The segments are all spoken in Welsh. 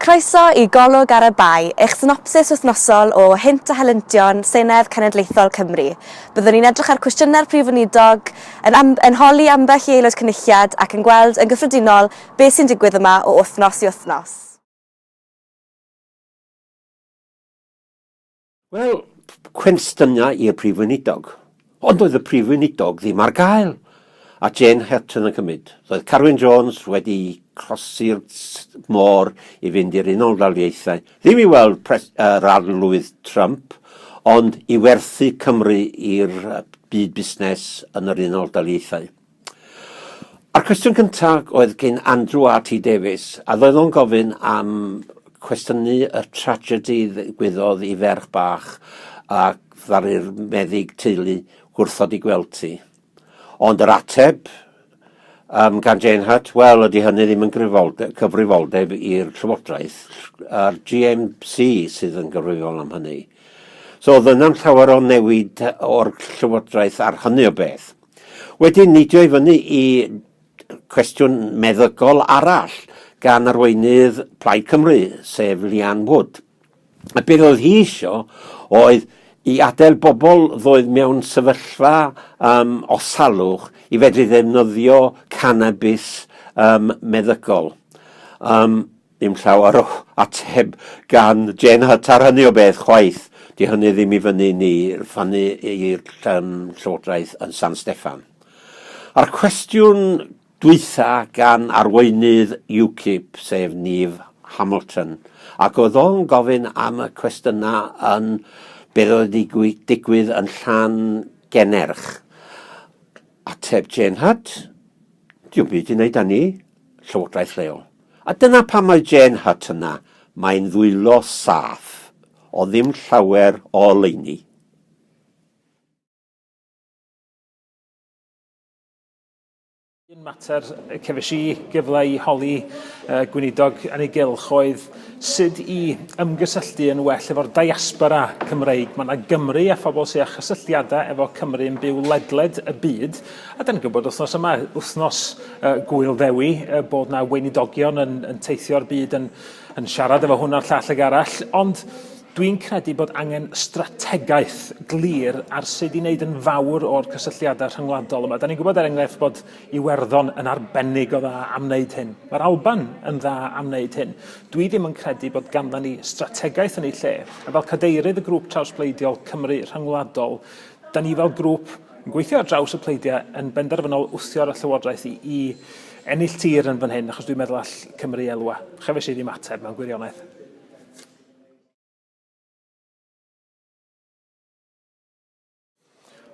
Croeso i Golwg ar y Bae, eich synopsis wythnosol o Hynt a Helyntion Senedd Cenedlaethol Cymru. Byddwn ni'n edrych ar cwestiynau'r Prif Weinidog, yn am- yn holi ambell i Aelod Cynulliad ac yn gweld yn gyffredinol beth sy'n digwydd yma o wythnos i wythnos. Wel, cwenstyniau i'r Prif Weinidog. Ond doedd y Prif Weinidog ddim ar gael, a Jane Houghton yn cymryd. Doedd Carwyn Jones wedi closi'r môr i fynd i'r Unol Daliaethau, ddim i weld pres, uh, rarlwydd Trump, ond i werthu Cymru i'r byd busnes yn yr Unol Daliaethau. A'r cwestiwn cynta oedd gin Andrew RT Davies, a ddoedd o'n gofyn am cwestiynu y tragedy ddigwyddodd i ferch bach a ddaru'r meddyg teulu gwrthod i gweld ti. Ond yr ateb um, gan Jane Hutt, wel, ydy hynny ddim yn cyfrifoldeb i'r Llywodraeth, a'r GMC sydd yn gyfrifol am hynny. So oedd yna'n llawer o newid o'r Llywodraeth ar hynny o beth. Wedyn, neidio i fyny i cwestiwn meddygol arall gan arweinydd Plaid Cymru, sef Leanne Wood. A beth oedd hi eisiau oedd i adael bobl ddoedd mewn sefyllfa um, o salwch i fedru ddefnyddio cannabis um, meddygol. Um, Dim llawer o ateb gan Jen Hutt ar hynny o beth chwaith. Di hynny ddim i fyny ni rfanu i'r yym Llywodraeth yn San Steffan. A'r cwestiwn dwytha gan arweinydd UKIP, sef Niv Hamilton, ac oedd o'n gofyn am y cwestiyna yn beth oedd wedi digwydd yn Llan Gennerch. Ateb Jen Hutt, diwm byd i wneud â ni. Llywodraeth Leol. A dyna pam mae Jane Hutt yna, mae'n ddwylo saff o ddim llawer o oleuni. Un mater y cefais i gyfle i holi y Gweinidog yn ei gylch oedd sut i ymgysylltu yn well efo'r diaspora Cymreig. Mae yna Gymry a phobl sydd â chysylltiadau efo Cymru yn byw ledled y byd, A dan ni'n gwybod wythnos yma, wythnos uh, gwyl ddewi, uh, bod na weinidogion yn, yn teithio'r byd yn, yn siarad efo hwn a'r llall ag arall, ond dwi'n credu bod angen strategaeth glir ar sut i wneud yn fawr o'r cysylltiadau rhyngwladol yma. Da ni'n gwybod er enghraifft bod Iwerddon yn arbennig o dda am wneud hyn. Mae'r Alban yn dda am wneud hyn. Dwi ddim yn credu bod ganddo ni strategaeth yn ei lle. A fel cadeirydd y grŵp trawsbleidiol Cymru rhyngwladol, da ni fel grŵp Yn gweithio ar draws y pleidiau yn benderfynol wthio'r Llywodraeth i, i ennill tir yn fan hyn, achos dwi'n meddwl all Cymru elwa. Chefais i ddim ateb mewn gwirionedd.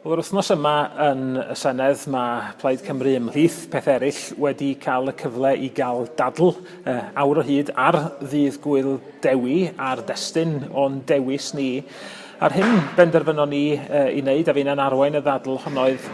Wel, yr wythnos yma yn y Senedd mae Plaid Cymru ymhlith pethau eraill wedi cael y cyfle i gael dadl uh, awr o hyd ar ddydd gwyl dewi a'r destun o'n dewis ni. A'r hyn benderfynon ni ei wneud a finna'n arwain y ddadl hon oedd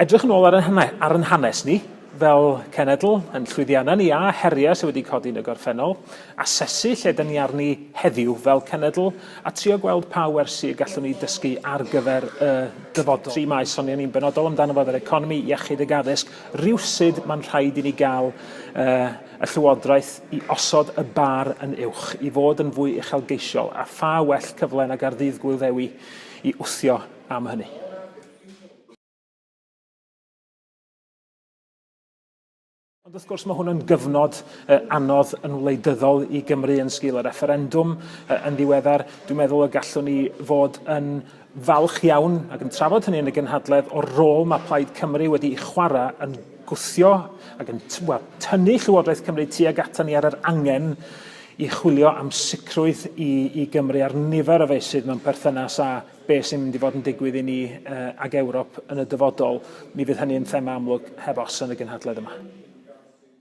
edrych yn ôl ar ein, ar ein hanes ni fel cenedl, yn llwyddiannau ni a heriau sydd wedi codi yn y gorffennol, asesu lle dyn ni arni heddiw fel cenedl a trio gweld pa wersi y gallwn ni dysgu ar gyfer y dyfodol. Tri maes sonion ni'n benodol amdano fo oedd yr economi, iechyd ac addysg. Rywsut mae'n rhaid i ni gael uh, y Llywodraeth i osod y bar yn uwch, i fod yn fwy uchelgeisiol, a pha well cyfle nag ar Ddydd Gŵyl Ddewi i wthio am hynny. Ond wrth gwrs mae hwn yn gyfnod anodd yn wleidyddol i Gymru yn sgil y refferendwm yn ddiweddar. Dwi'n meddwl y gallwn ni fod yn falch iawn ac yn trafod hynny yn y gynhadledd o'r rôl mae Plaid Cymru wedi ei chwarae yn gwthio ac yn wel, tynnu Llywodraeth Cymru tuag ato ni ar yr angen i chwilio am sicrwydd i, i Gymru ar nifer o feysydd mewn perthynas â beth sy'n mynd i fod yn digwydd i ni uh, ag Ewrop yn y dyfodol. Mi fydd hynny yn thema amlwg heb os yn y gynhadledd yma.